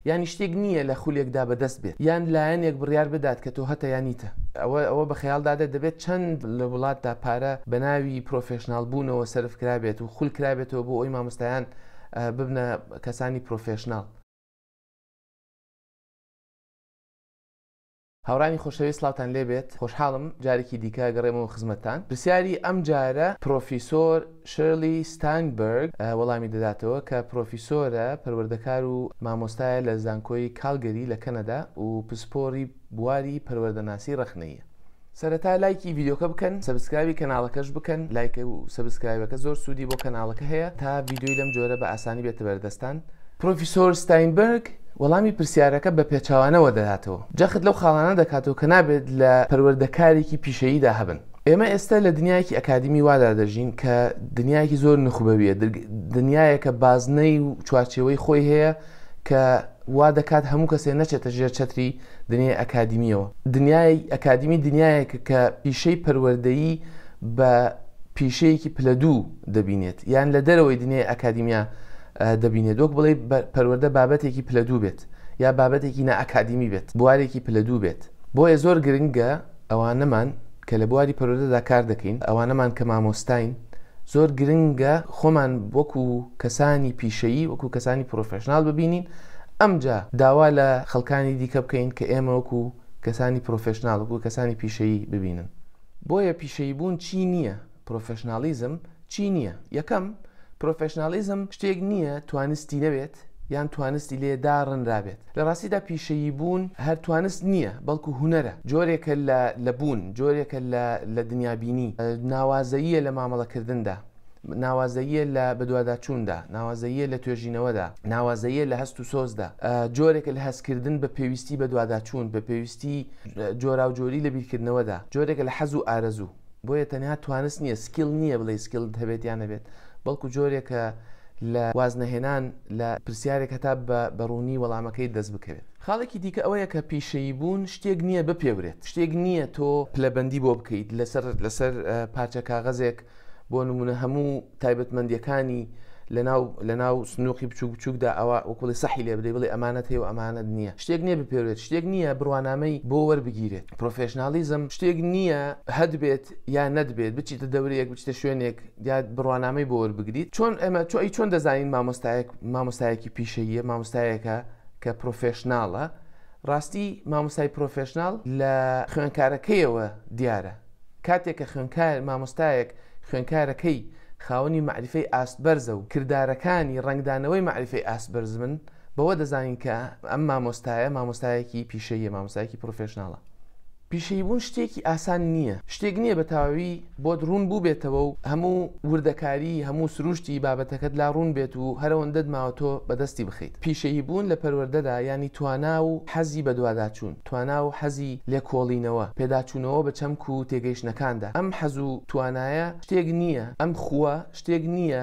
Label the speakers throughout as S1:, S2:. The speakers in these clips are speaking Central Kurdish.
S1: یانی شتێک نییە لە خولێکدا بەدەست بێت یان لایەنێک بڕیار بدات کە تۆ هەتە یان نیتە. ئەوە ئەوە بە خەیاڵ دادێت دەبێت چەند لە وڵاتدا پارە بە ناوی پرۆفێشناڵ بوونەوە سەرف کرابێت و خول کرابێتەوە بۆ ئەوی مامۆستایان ببنە کەسانی پرۆفێشناڵ. هاوڕیانی خۆشەویست سڵاوتان لێ بێت خۆشحاڵم جارێکی دیکە گەڕێمەوە خزمەتتان پرسیاری ئەم جارە پرۆفیسۆر شرلی ستاینبەرگ وەڵامی دەداتەوە کە پرۆفیسۆرە پەروەردەکار و مامۆستایە لە زانکۆی کالگەری لە کەنەدا و پسپۆڕی بواری پەروەردەناسی ڕەخنەییە. سەرەتا لایکی ڤیدیۆکە بکەن سەبسکرایبی کەناڵەکەش بکەن لایک و سەبسکرایبەکە زۆر سوودی بۆ کەناڵەکە هەیە تا ڤیدیۆی لەم جۆرە بە ئاسانی بێتە بەردەستان. پرۆفیسۆر ستاینبەرگ وەڵامی پرسیارەکە بە پێچەوانەوە دەداتەوە، جەخت لەو خاڵانە دەکاتەوە کە نابێت لە پەروەردەکارێکی پیشەییدا هەبن. ئێمە ئێستا لە دنیایەکی ئەکادیمی وادا دەژین کە دنیایەکی زۆر نوخبەوییە، دنیایەکە بازنەی و چوارچێوەی خۆی هەیە کە وا دەکات هەموو کەسێ نەچێتە ژێر چەتری دنیای ئەکادیمییەوە. دنیای ئەکادیمی دنیایەکە کە پیشەی پەروەردەیی بە پیشەیەکی پلە دوو دەبینێت یان لە دەرەوەی دنیای ئەکادیمیا دەبینێت، وەک بڵێی پەروەردە بابەتێکی پلە دوو بێت، یا بابەتێکی نا ئەکادیمی بێت، بوارێکی پلە دوو بێت، بۆیە زۆر گرنگە ئەوانەمان کە لە بواری پەروەردەدا کار دەکەین، ئەوانەمان کە مامۆستاین، زۆر گرنگە خۆمان وەکو کەسانی پیشەیی، وەکو کەسانی پرۆفێشناڵ ببینین، ئەمجا داوا لە خەڵکانی دیکە بکەین کە ئێمە وەکو کەسانی پرۆفێشناڵ، وەکو کەسانی پیشەیی ببینن. بۆیە پیشەییبوون چی نییە، پرۆفێشناڵیزم چی نییە؟ یەکەم، پرۆفێشناڵیزم شتێک نییە توانستی نەبێت یان توانستی لێ داڕنرابێت. لە ڕاستیدا پیشەییبوون هەر توانست نییە، بەڵکو هونەرە، جۆرێکە لە بوون، جۆرێکە لە دنیابینی، ناوازەییە لە مامەڵەکردندا، ناوازەییە لە بەدواداچووندا، ناوازەییە لە توێژینەوەدا، ناوازەییە لە هەست و سۆزدا، جۆرێکە لە هەستکردن بە پێویستی بەدواداچوون، بە پێویستی جۆراوجۆری لە بیرکردنەوەدا، جۆرێکە لە حەز و ئارەزوو. بۆیە تەنها توانست نییە سکیل نییە بڵێ سکیلت هەبێت یان نەبێت بەڵکو جۆرێکە لە وازنەهێنان لە پرسیارێک هەتا بە بەڕوونی وەڵامەکەی دەست بکەوێت خاڵێکی دیکە ئەوەیە کە پیشەیی بوون شتێک نییە بپێورێت شتێک نییە تۆ پلەبەندی بۆ بکەیت لەسەر لەسەر پارچە کاغەزێک بۆ نمونە هەموو تایبەتمەندیەکانی لەناو لەناو سنووقی بچوک بچوکدا ئەوە وکڵی سەحی لێ بدەی بڵێ ئەمانەت هەیە و ئەمانەت نییە شتێک نییە بپێوێت شتێک نییە بڕوانامەی بۆ وەربگیرێت پرۆفشنناڵیزم شتێک نییە هەبێت یا نەبێت بچیتە دەورەیەک بچتە شوێنێک دیات بڕوانامەی بۆ وەربگریت چۆن ئەمە تۆ ئەی چۆن دەزانین مامۆستایەک مامۆستایەکی پیشەیە مامۆستایەکە کە پرۆفشنناڵە ڕاستی مامۆسای پرۆفشنناڵ لە خوێنکارەکەیەوە دیارە کاتێک کە خوێنکار، مامۆستایەک، خوێنکارەکەی خاوەنی مەعریفەی ئاست بەرزە و کردارەکانی ڕەنگدانەوەی مەعریفەی ئاست بەرز بن، بەوە دەزانین کە ئەم مامۆستایە، مامۆستایەکی پیشەییە، مامۆستایەکی پڕۆفێشناڵە. پیشەییبوون شتێکی ئاسان نییە، شتێک نییە بە تەواوی بۆت ڕوون بووبێتەوە و هەموو وردەکاری، هەموو سرووشتی بابەتەکەت لا ڕوون بێت و هەر ئەوەندەت ماوە تۆ بەدەستی بخەیت. پیشەییبوون لە پەروەردەدا یانی توانا و حەزی بەدواداچوون. توانا و حەزی لێکۆڵینەوە، پێداچوونەوە بە چەمک و تێگەیشتنەکاندا، ئەم حەز و توانایە شتێک نییە، ئەم خووە شتێک نییە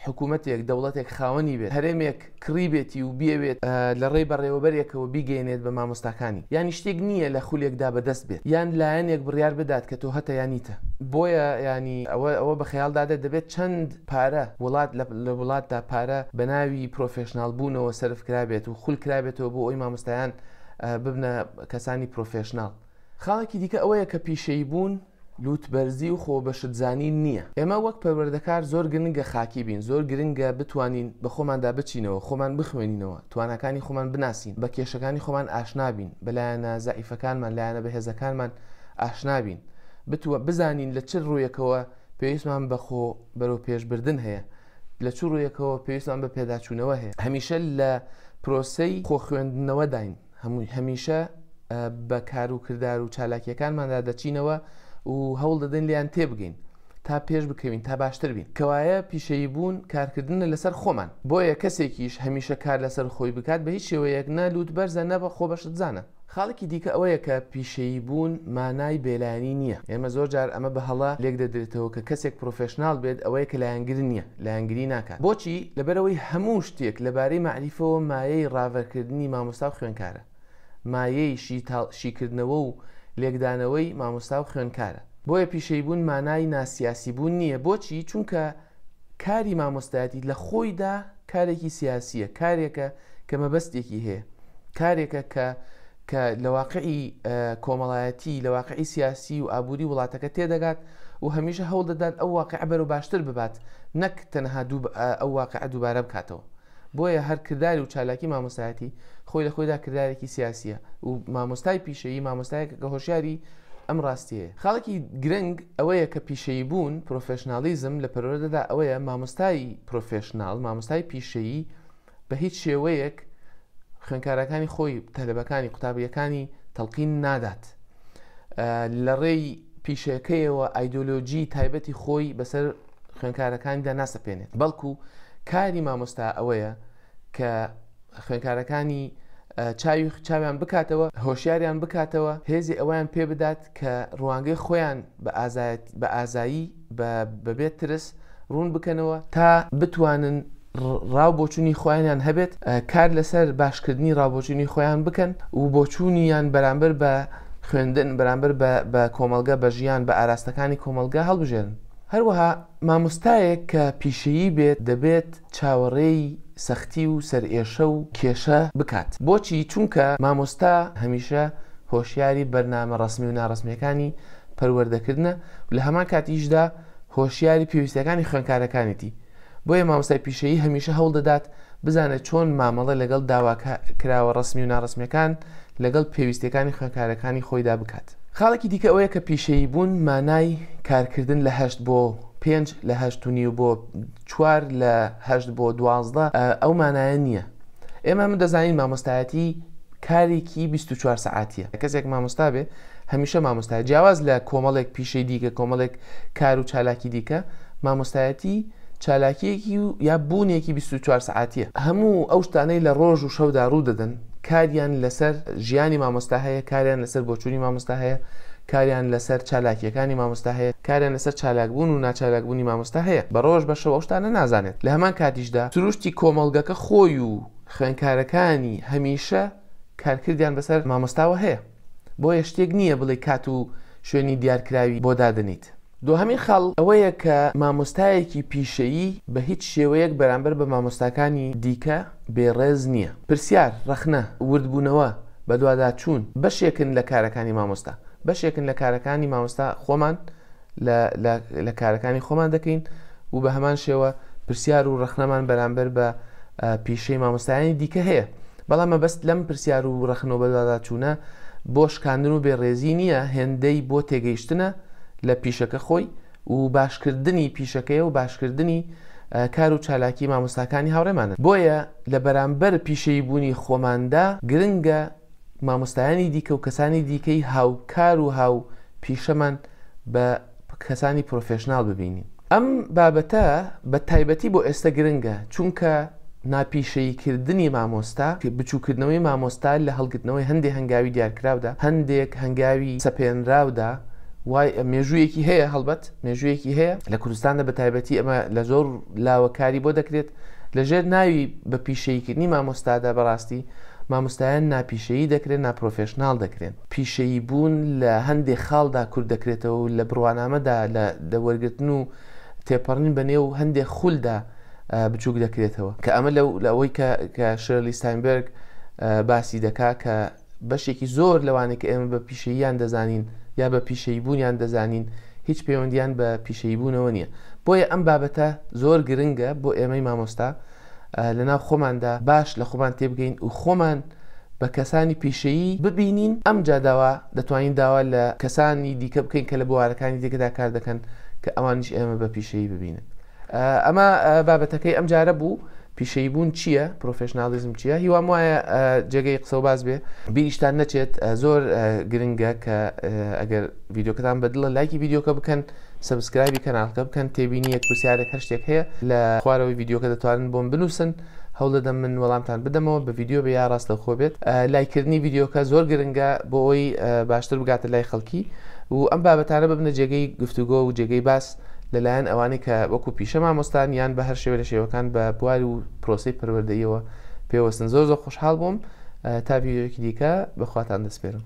S1: حکوومەتێک، دەوڵەتێک خاوەنی بێت، هەرێمێک کڕی بێتی و بیەوێت لە ڕێی بەڕێوەبەرێکەوە بیگەیەنێت بە مامۆستاکانی، یانی شتێک نییە لە خولێکدا بە دەست بێت، یان لایەنێک بڕیار بدات کە تۆ هەتە یا نیتە. بۆیە یانی ئەوە ئەوە بە خەیاڵدا دێت دەبێت چەند پارە وڵات لە وڵاتدا پارە بە ناوی پرۆفێشناڵ بوونەوە سەرف کرابێت و خول کرابێتەوە بۆ ئەوەی مامۆستایان ببنە کەسانی پرۆفێشناڵ. خاڵێکی دیکە ئەوەیە کە پیشەییبوون لووتبەرزی و خۆبەشتزانین نییە. ئێمە وەک پەروەردەکار زۆر گرنگە خاکی بین، زۆر گرنگە بتوانین بە خۆماندا بچینەوە، خۆمان بخوێنینەوە، تواناکانی خۆمان بناسین، بە کێشەکانی خۆمان ئاشنا بین، بە لایەنە زەعیفەکانمان، لایەنە بەهێزەکانمان ئاشنا بین، بتوە بزانین لە چ ڕوویەکەوە پێویستمان بە خۆ بەرەوپێشبردن هەیە. لە چ ڕوویەکەوە پێویستمان بە پێداچوونەوە هەیە هەمیشە لە پرۆسەی خۆ خوێندنەوەداین هەمووی هەمیشە بە کار و کردار و چالاکیەکانماندا دەچینەوە و هەوڵ دەدەین لیان تێبگەین تا پێش بکەوین تا باشتر بین کەوایە پیشەیی بوون کارکردنە لەسەر خۆمان بۆیە کەسێکیش هەمیشە کار لەسەر خۆی بکات بە هیچ شێوەیەک نە لووت بەرزە نە بە خۆ بەشت زانە خاڵێکی دیکە ئەوەیە کە پیشەییبوون مانای بێلایەنی نییە. ئێمە زۆر جار ئەمە بە هەڵە لێک دەدرێتەوە کە کەسێک پرۆفێشناڵ بێت ئەوەیە کە لایەنگر نییە، لایەنگری ناکات. بۆچی؟ لەبەرئەوەی هەموو شتێک لەبارەی مەعریفەوە مایەی ڕاڤەکردنی مامۆستا و خوێنکارە. مایەی شیکردنەوە و لێکدانەوەی مامۆستا و خوێنکارە. بۆیە پیشەییبوون مانای ناسیاسیبوون نییە. بۆچی؟ چونکە کاری مامۆستایەتی لە خۆیدا کارێکی سیاسییە، کارێکە کە مەبەستێکی هەیە، کارێکە کە کە لە واقعی کۆمەڵایەتی، لە واقعی سیاسی و ئابووری وڵاتەکە تێدەگات و هەمیشە هەوڵ دەدات ئەو واقعە بەرەو باشتر ببات، نەک تەنها دوو ئەو واقعە دووبارە بکاتەوە. بۆیە هەر کردار و چالاکی مامۆستایەتی خۆی لە خۆیدا کردارێکی سیاسییە و مامۆستای پیشەیی مامۆستایەکە کە هۆشیاری ئەم ڕاستیەیە. خاڵێکی گرنگ ئەوەیە کە پیشەیی بوون، پرۆفێشناڵیزم، لە پەروەردەدا ئەوەیە مامۆستای پرۆفێشناڵ، مامۆستای پیشەیی بە هیچ شێوەیەک خوێنکارەکانی خۆی، تەلەبەکانی، قوتابییەکانی تەڵقین نادات. لە ڕێی پیشەکەیەوە ئایدۆلۆژی تایبەتی خۆی بەسەر. خوێندکارەکانی دا ناسەپێنێت بەڵکو کاری مامۆستا ئەوەیە کە خوێندکارەکانی چاوی چاویان بکاتەوە هۆشیاریان بکاتەوە هێزی ئەویان پێ بدات کە ڕوانگەی خۆیان بە ئازایەت بە ئازایی بەبێت ترس ڕوون بکەنەوە تا بتوانن ڕاو بۆچونی خۆیانیان هەبێت کار لەسەر باشکردنی ڕاوبۆچونی خۆیان بکەن و بۆچوونی یان بەرامبەر بە خوێندن بەرامبەر بە کۆمەلگە بە ژیان بە ئاراستەکانی کۆمەلگە هەڵبژێرن هەروەها مامۆستایەک کە پیشەیی بێت دەبێت چاوەڕێی سەختی و سەرئێشە و کێشە بکات بۆچی چونکە مامۆستا هەمیشە هۆشیاری بەرنامە ڕەسمی و ناڕەسمیەکانی پەروەردەکردنە لە هەمان کاتیشدا هۆشیاری پێویستەکانی خوێنکارەکانیتی. بۆیە مامۆستای پیشەیی هەمیشە هەوڵ دەدات بزانێت چۆن مامەڵە لەگەڵ داواکە کراوە ڕسمی و ناڕسمیەکان لەگەڵ پێویستەکانی خوێنکارەکانی خۆیدا بکات خاڵێکی دیکە ئەوەیە کە پیشەیی بوون مانای کارکردن لە هەشت بۆ پێنج لە هەشت و نیو بۆ چوار لە هەشت بۆ دوازدە ئەو مانایە نییە ئێمە من دەزانین مامۆستایەتی کارێکی بیست و چوار سەعاتیە کەسێک مامۆستا بێ هەمیشە مامۆستای جیاواز لە کۆمەڵێک پیشەی دیکە کۆمەڵێک کار و چالاکی دیکە مامۆستایەتی چالاکیەکی و یا بوونێکی 24 سعاتیە هەموو ئەو شتانەی لە ڕۆژ و شەودا ڕوو دەدەن کاریان لەسەر ژیانی مامۆستا هەیە کاریان لەسەر بۆچوونی مامۆستا هەیە کاریان لەسەر چالاکیەکانی مامۆستا هەیە کاریان لەسەر چالاکبوون و ناچالاکبوونی مامۆستا هەیە بە ڕۆژ بە شەوەشتانە نازانێت لە هەمان کاتیشدا سروشتی کۆمەڵگەکە خۆی و خوێنکارەکانی هەمیشە کارکردیان بەسەر مامۆستاوە هەیە بۆیە شتێک نییە بڵێی کات و شوێنی دیارکراوی بۆ دادەنیت. دوهەمین خاڵ ئەوەیە کە مامۆستایەکی پیشەیی بە هیچ شێوەیەک بەرامبەر بە مامۆستاکانی دیکە بێ ڕێز نییە. پرسیار، ڕەخنە، وردبوونەوە، بەدواداچوون بەشێکن لە کارەکانی مامۆستا. بەشێکن لە کارەکانی مامۆستا خۆمان لە لە لە کارەکانی خۆمان دەکەین و بە هەمان شێوە پرسیار و ڕخنەمان بەرامبەر بە پیشەی مامۆستایانی دیکە هەیە بەڵام مەبەست لەم پرسیار و ڕخنەوە بەدواداچوونە بۆ شکاندن و بێڕێزی نییە هێندەی بۆ تێگەیشتنە لە پیشەکە خۆی و باشکردنی پیشەکەی و باشکردنی کار و چالاکی مامۆستاکانی هاوڕێمانن بۆیە لە بەرامبەر پیشەیی بوونی خۆماندا گرنگە مامۆستایانی دیکە و کەسانی دیکەی هاوکار و هاو پیشەمان بە کەسانی پرۆفێشنال ببینین ئەم بابەتە بە تایبەتی بۆ ئێستە گرنگە چونکە ناپیشەیی کردنی مامۆستا بچووکردنەوەی مامۆستا لە هەڵگرتنەوەی هەندێک هەنگاوی دیارکراودا هەندێک هەنگاوی سەپێنراودا وای مێژوویەکی هەیە هەڵبەت مێژوویەکی هەیە لە کوردستاندا بە تایبەتی ئەمە لە زۆر لاوەکاری بۆ دەکرێت لە ژێر ناوی بە پیشەییکردنی مامۆستادا بەڕاستی مامۆستایان ناپیشەیی دەکرێن، ناپرۆفێشناڵ دەکرێن. پیشەییبوون لە هەندێک خاڵدا کورت دەکرێتەوە و لە بڕوانامەدا لە دە وەرگرتن و تێپەڕین بە نێو هەندێک خولدا بچووک دەکرێتەوە کە ئەمە لە ئەوەی کە شێرلی ستاینبێرگ باسی دەکات کە بەشێکی زۆر لەوانەی کە ئێمە بە پیشەییان دەزانین یا بە پیشەییبوونیان دەزانین هیچ پەیوەندیان بە پیشەییبوونەوە نییە بۆیە ئەم بابەتە زۆر گرنگە بۆ ئێمەی مامۆستا لەناو خۆماندا باش لە خۆمان تێبگەین و خۆمان بە کەسانی پیشەیی ببینین ئەم جاداوا دەتوانین داوا لە کەسانی دیکە بکەین کە لە بوارەکانی دیکەدا کار دەکەن کە ئەوانیش ئێمە بە پیشەیی ببینن ئەمە بابەتەکەی ئەم جارە بوو پیشەی بوون چییە پرۆفشنناڵیزم چیە هیوام وایە جێگەی قسە و باز بێ بیریشتان نەچێت زۆر گرنگە کە ئەگەر یددیوکەتان بەدڵە لایکی یددیوکە بکەن سبسکرایبی کەناڵکە بکەن تێبینی یەک پرسیارێک هەر شتێک هەیە لە خوارەوەی یددیوکە دەتوانن بۆم بنووسن هەوڵدەدەم من وەڵامتان بدەمەوە بە یددیو بە یا ڕاست لە خۆ بێت لایکردنی یددیوکە زۆر گرنگە بۆ ئەوی باشتر بگاتە لای خەڵکی و ئەم بابەتانە ببنە جێگەی گفتوگۆ و جێگەی باس لە لایەن ئەوانەی کە وەکو پیشە مامۆستان یان بە هەر شێوە لە شێوەکان بە بوار و پرۆسی پەروەردەیەوە پێوەستن زۆر زۆر خۆشحاڵ بووم تا ڤیدیۆیەکی دیکە بەخواتان دەسپێرم